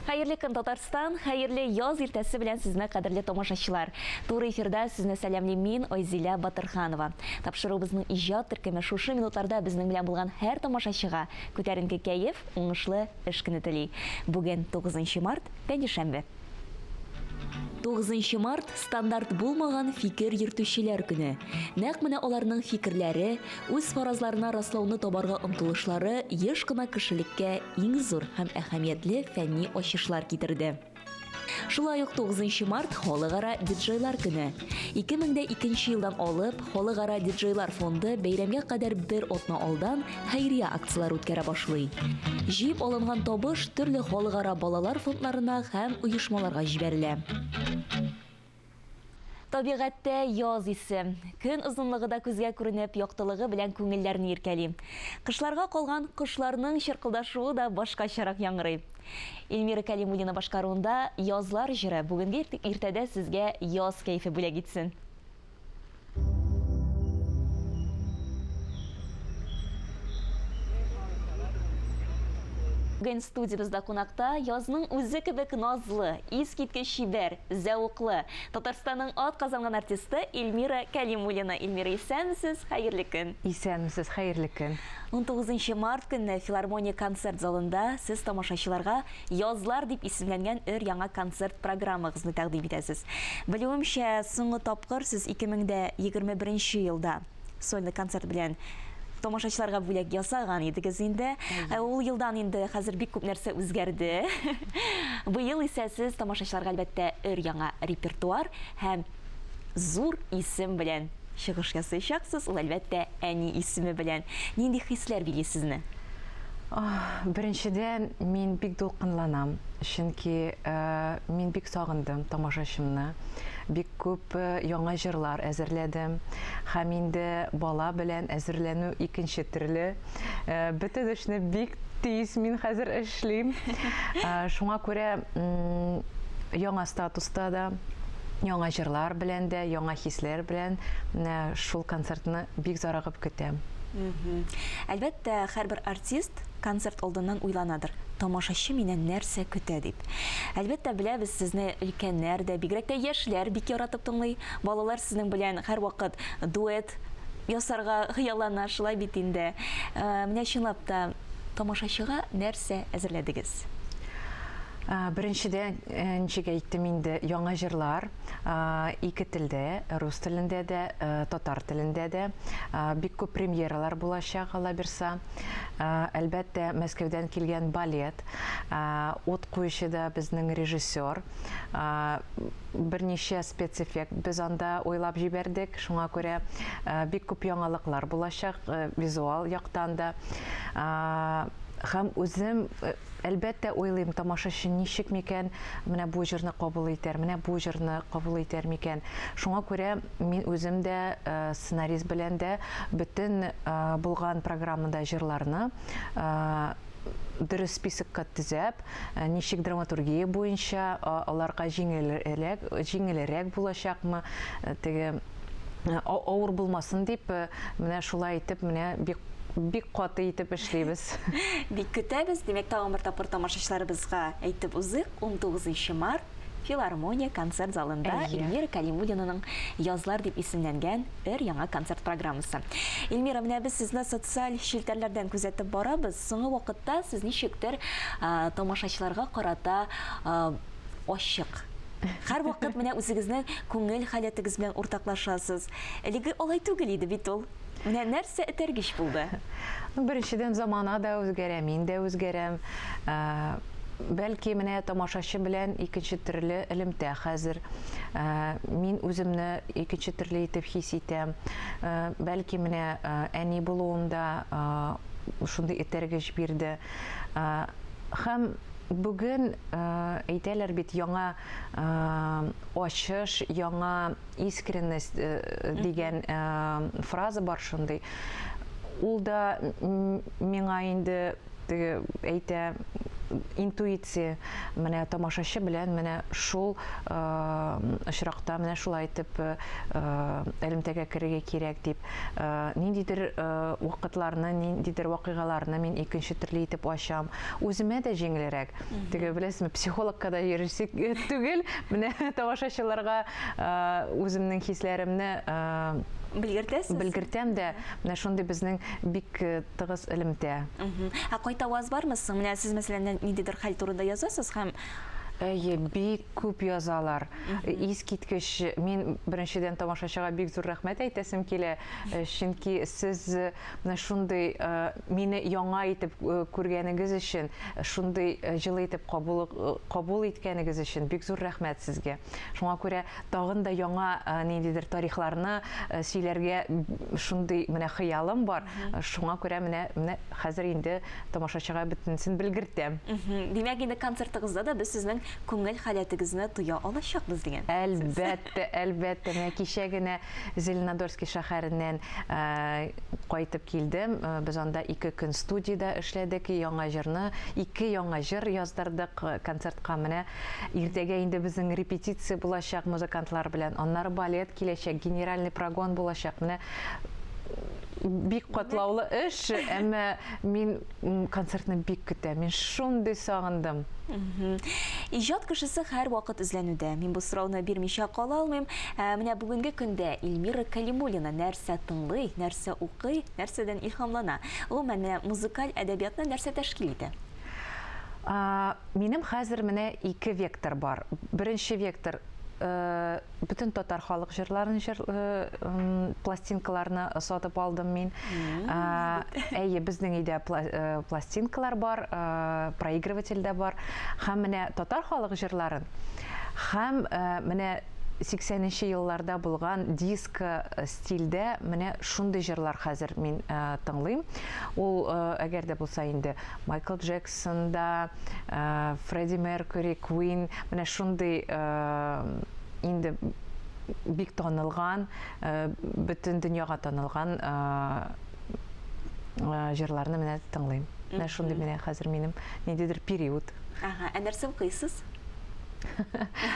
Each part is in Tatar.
Хәерле көн Татарстан, хәерле яз иртәсе белән сезне кадерле тамашачылар. Туры эфирда сезне сәламлим мин Айзилә Батырханова. Тапшыруыбызның иҗат төркеме шушы минутларда безнең белән булган һәр тамашачыга күтәренке кәеф, уңышлы эш көне тели. Бүген 9 март, пәнҗешәмбе. 9 март стандарт булмаган фикер йөртүчеләр көне. Нәкъ менә аларның фикерләре, үз фаразларына раслауны табарга омтылышлары еш кына кешелеккә иң зур һәм әһәмиятле фәнни ачышлар китерде. Шулай ук 9 март халыкара диджейлар көне. 2002 елдан алып халыкара диджейлар фонды бәйрәмгә кадәр бер атна алдан хәйрия акцияләре үткәрә башлый. Җыеп алынган табыш төрле халыкара балалар фондларына һәм оешмаларга җибәрелә. Табигатьтә яз исе, көн озынлыгы да күзгә күренеп, яктылыгы белән күңелләрне иркәли. Кышларга калган кошларның чыркылдашуы да башкачарак яңгырый. Эльмира Кәлимуллина башкаруында Язлар җыры бүгенге иртәдә сезгә яз кәефе бүләк итсен! Бүген студиябездә кунакта язның үзе кебек назлы, искиткеч чибәр, зәвыклы Татарстанның ат казанган артисты Эльмира Кәлимуллина. Эльмира, исәнмесез, хәерле көн. Исәнмесез, хәерле көн. 19 март көнне филармония концерт залында сез тамашачыларга Язлар дип исемләнгән өр-яңа концерт программагызны тәкъдим итәсез. Белүемчә, соңгы тапкыр сез 2021 нче елда сольный концерт белән тамашачыларга бүләк ясаган идегез инде. Ә ул елдан инде хәзер бик күп нәрсә үзгәрде. Быел исә сез тамашачыларга, әлбәттә, өр-яңа репертуар һәм Зур исем белән чыгыш ясыйчаксыз, ул әлбәттә әни исеме белән. Нинди хисләр били сезне? Беренчедән, мин бик дулкынланам, чөнки э, мин бик сагындым тамашачымны. Бик күп э, яңа җырлар әзерләдем. Һәм инде бала белән әзерләнү икенче төрле. Э, бөтен эшне бик тиз мин хәзер эшлим. Э, шуңа күрә яңа статуста да яңа җырлар белән дә, яңа хисләр белән э, шул концертны бик зарыгып көтәм. Әлбәттә, һәрбер артист концерт алдыннан уйланадыр. Тамашачы миннән нәрсә көтә дип. Әлбәттә, беләбез, сезне өлкәннәр дә, бигрәк тә яшьләр бик яратып тыңлый. Балалар сезнең белән һәрвакыт дуэт ясарга хыяллана, шулай бит инде. Э, менә чынлап та тамашачыга нәрсә әзерләдегез? Беренчедән, э, ничек әйттем инде, яңа җырлар ике телдә, рус телендә дә, э, татар телендә дә. Бик күп премьералар булачак, алла бирса. Әлбәттә, Мәскәүдән килгән балет. Ут куючы да безнең режиссер. берничә спецэффект без анда уйлап җибәрдек. Шуңа күрә бик күп яңалыклар булачак визуал яктан да. Хәм үзем әлбәттә уйлыйм, тамашачы ничек микән менә бу җырны кабул итәр, менә бу җырны кабул итәр микән. Шуңа күрә мин үзем дә э, сценарист белән дә бөтен э, булган программада җырларны э, дөрес списокка төзәп, э, ничек драматургия буенча аларга җиңелрәк, җиңелрәк булачакмы, э, теге э, авыр булмасын дип, менә шулай итеп, менә бик бик каты итеп эшлибез. Бик көтәбез. Димәк, тагын бер тапкыр тамашачыларыбызга әйтеп узыйк, 19 март Филармония концерт залында Эльмира Кәлимуллинаның Язлар дип исемләнгән өр-яңа концерт программасы. Эльмира, менә без сезне социаль челтәрләрдән күзәтеп барабыз. Соңгы вакытта сез ничектер тамашачыларга карата ачык. Һәрвакыт менә үзегезнең күңел халәтегез белән уртаклашасыз. Элеге алай түгел иде бит ул. Менә нәрсә этәргеч булды? Ну, беренчедән замана да үзгәрә, мин дә үзгәрәм. Ә, бәлки менә тамашачы белән икенче төрле элемтә хәзер. Ә, мин үземне икенче төрле итеп хис итәм. Ә, бәлки менә ә, әни булуым да ә, шундый этәргеч бирде. Ә, һәм бүген ә, әйтәләр бит яңа ә, ачыш, яңа искренность э, дигән э, фраза бар шундый. Ул да миңа инде теге әйтә интуиция менә тамашачы белән менә шул э, очракта менә шулай итеп э, элемтәгә керергә кирәк дип э, ниндидер вакытларны ниндидер вакыйгаларны мин икенче төрле итеп ачам үземә дә җиңелрәк теге беләсезме психологка да йөрисек түгел менә тамашачыларга үземнең хисләремне белгертәсез белгертәм дә менә шундый безнең бик э, тыгыз элемтә ә кайта ваз бармы соң менә сез мәсәлән ниндидер хәл турында язасыз һәм Әйе, бик күп язалар. Искиткеч, мин беренчедән тамашачыга бик зур рәхмәт әйтәсем килә, э, чөнки сез э, менә шундый э, мине яңа итеп күргәнегез өчен, шундый җылы итеп кабул кабул иткәнегез өчен бик зур рәхмәт сезгә. Шуңа күрә тагын да яңа ниндидер тарихларны сөйләргә шундый менә хыялым бар. Шуңа күрә менә менә хәзер инде тамашачыга бөтенесен белгертәм. Димәк, инде концертыгызда да без сезнең күңел халәтегезне тоя алачакбыз дигән. Әлбәттә, әлбәттә. Менә кичә генә Зеленодольский шәһәреннән кайтып килдем. Без анда ике көн студиядә эшләдек, яңа җырны, ике яңа җыр яздырдык концертка менә. Иртәгә инде безнең репетиция булачак музыкантлар белән, аннары балет киләчәк, генеральный прогон булачак. Менә бик катлаулы эш, әмма мин концертны бик көтәм. Мин шундый сагындым. Иҗат кешесе һәрвакыт эзләнүдә. Мин бу сорауны бирмичә кала алмыйм. Ә менә бүгенге көндә Эльмира Калимуллина нәрсә тыңлый, нәрсә укый, нәрсәдән илһамлана? Гомумән, менә музыкаль әдәбиятны нәрсә тәшкил итә? Минем хәзер менә ике вектор бар. Беренче вектор бөтен татар халык җырларын җыр пластинкаларны сатып алдым мин. Әйе, безнең өйдә пластинкалар бар, проигрыватель дә бар. Һәм менә татар халык җырларын һәм менә 80 нче елларда булган диско э, стильдә менә шундый җырлар хәзер мин э, тыңлыйм. Ул э, әгәр дә булса инде Майкл Джексон да, Фредди Меркьюри, Квин, менә шундый инде бик танылган, бөтен дөньяга танылган җырларны менә тыңлыйм. Менә шундый менә хәзер минем ниндидер период. Ага, ә нәрсә укыйсыз?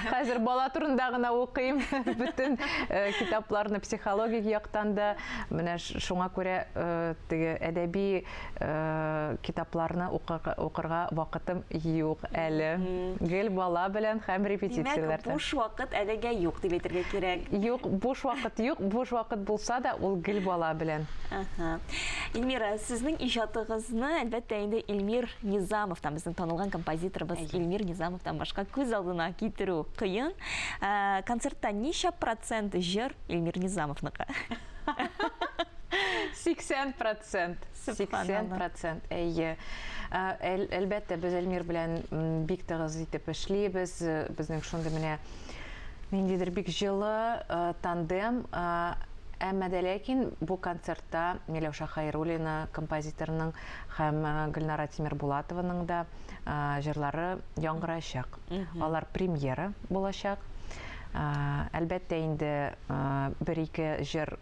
Хәзер бала турында гына укыйм. Бөтен э, китапларны психологик яктан да, менә шуңа күрә э, теге әдәби китапларны укырга вакытым юк әле. Гел бала белән һәм репетицияләрдә. Димәк, буш вакыт әлегә юк дип әйтергә кирәк. Юк, буш вакыт юк. Буш вакыт булса да, ул гел бала белән. Ага. Эльмира, сезнең иҗатыгызны, әлбәттә, инде Эльмир Низамовтан, безнең танылган композиторыбыз Эльмир Низамовтан башка күз алдына китерү кыен. Ә, концертта ничә процент җыр Эльмир Низамовныкы? 80 процент. процент, 80 процент, әйе. Әлбәттә, без Эльмир белән бик тыгыз итеп эшлибез. Безнең шундый менә ниндидер бик җылы тандем. Әмма дә ләкин бу концертта Миләүшә Хәйруллина композиторның һәм Гөлнара Тимербулатованың да җырлары яңгыраячак. Алар премьера булачак. Әлбәттә, инде Бер-ике җыр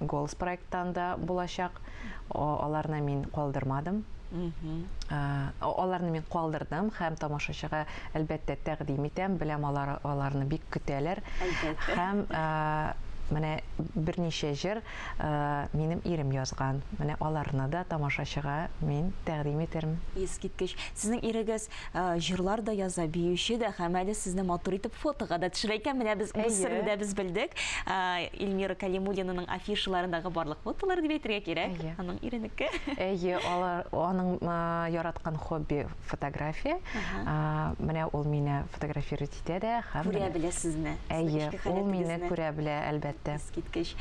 Голос проекттан да булачак. Аларны мин калдырмадым. Аларны мин калдырдым һәм тамашачыга, әлбәттә, тәкъдим итәм. Беләм, алар аларны бик көтәләр. Әлбәттә. Һәм менә берничә җыр минем ирем язган. Менә аларны да тамашачыга мин тәкъдим итермен. Искиткеч. Сезнең ирегез җырлар да яза, биюче дә һәм әле сезне матур итеп фотога да төшерә икән. Менә без үз серне дә без белдек. Эльмира Калимуллинаның афишаларындагы барлык фотолар дип әйтергә кирәк. Аның иренеке. Әйе, алар аның яраткан хобби фотография. Менә ул мине фотографировать итә дә һәм күрә белә сезне. Әйе, ул мине күрә белә, әлбәттә. Искиткеч.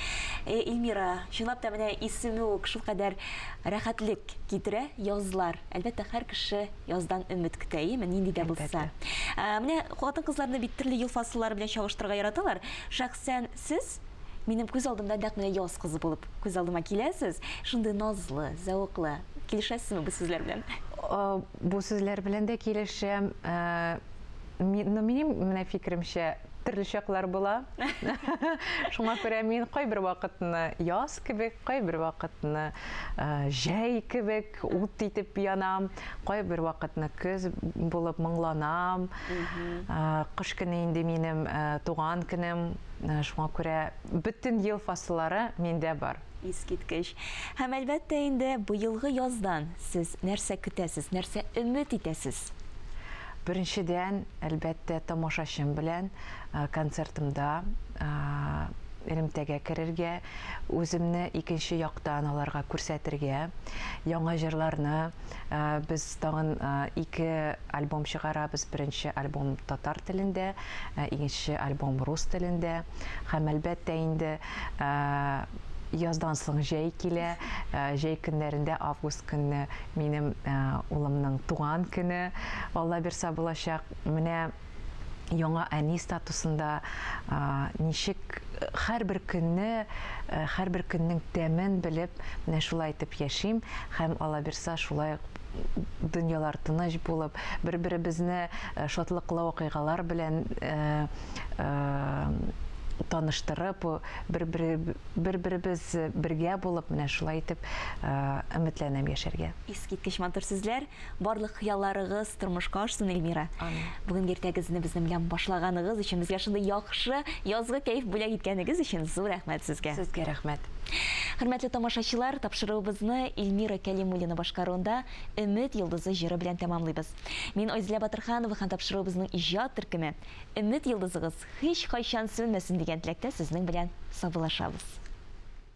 Эльмира, чынлап та менә исеме үк шулкадәр рәхәтлек китерә, язлар. Әлбәттә, һәр кеше яздан өмет көтә, яме, нинди дә булса. Менә хатын-кызларны бит төрле ел фасыллары белән чагыштырырга яраталар. Шәхсән сез минем күз алдымда нәкъ менә яз кызы булып күз алдыма киләсез. Шундый назлы, зәвыклы. Килешәсезме бу сүзләр белән? Бу сүзләр белән дә килешәм. Но минем менә фикеремчә, төрле чаклар була. Шуңа күрә мин кайбер вакытны яз кебек, кайбер вакытны җәй кебек, Ут итеп янам, кайбер вакытны көз булып моңланам. Кыш көне инде минем туган көнем, шуңа күрә бөтен ел фасыллары миндә бар. Искиткеч. Һәм әлбәттә инде быелгы яздан сез нәрсә көтәсез, нәрсә өмет итәсез? Беренчедән, әлбәттә, тамашачым белән концертымда элемтәгә керергә, үземне икенче яктан аларга күрсәтергә, яңа җырларны, без тагын ике альбом чыгарабыз, беренче альбом татар телендә, икенче альбом рус телендә. Һәм, әлбәттә, инде яздан соң җәй килә, җәй көннәрендә август көнне Минем улымның туган көне аллабирса булачак. Менә яңа әни статусында ничек һәрбер көнне, һәрбер көннең тәмен белеп, менә шулай итеп яшим һәм аллабирса шулай дөньялар тыныч булып, бер-беребезне шатлыклы вакыйгалар белән таныштырып, бер-бер бер-беребез бергә булып менә шулай итеп өметләнәм яшәргә. Искиткеч матур сүзләр, барлык хыялларыгыз тормышка ашсын, Эльмира. Бүген иртәгезне безнең белән башлаганыгыз өчен, безгә шундый яхшы язгы кәеф бүләк иткәнегез өчен зур рәхмәт сезгә. Сезгә рәхмәт. Хөрмәтле тамашачылар, тапшыруыбызны Эльмира Кәлимуллина башкаруында Өмет йолдызы җыры белән тәмамлыйбыз. Мин Айзилә Батырханова һәм тапшыруыбызның иҗат төркеме Өмет йолдызыгыз Һичкайчан сүнмәсен дигән теләктә сезнең белән саубулашабыз.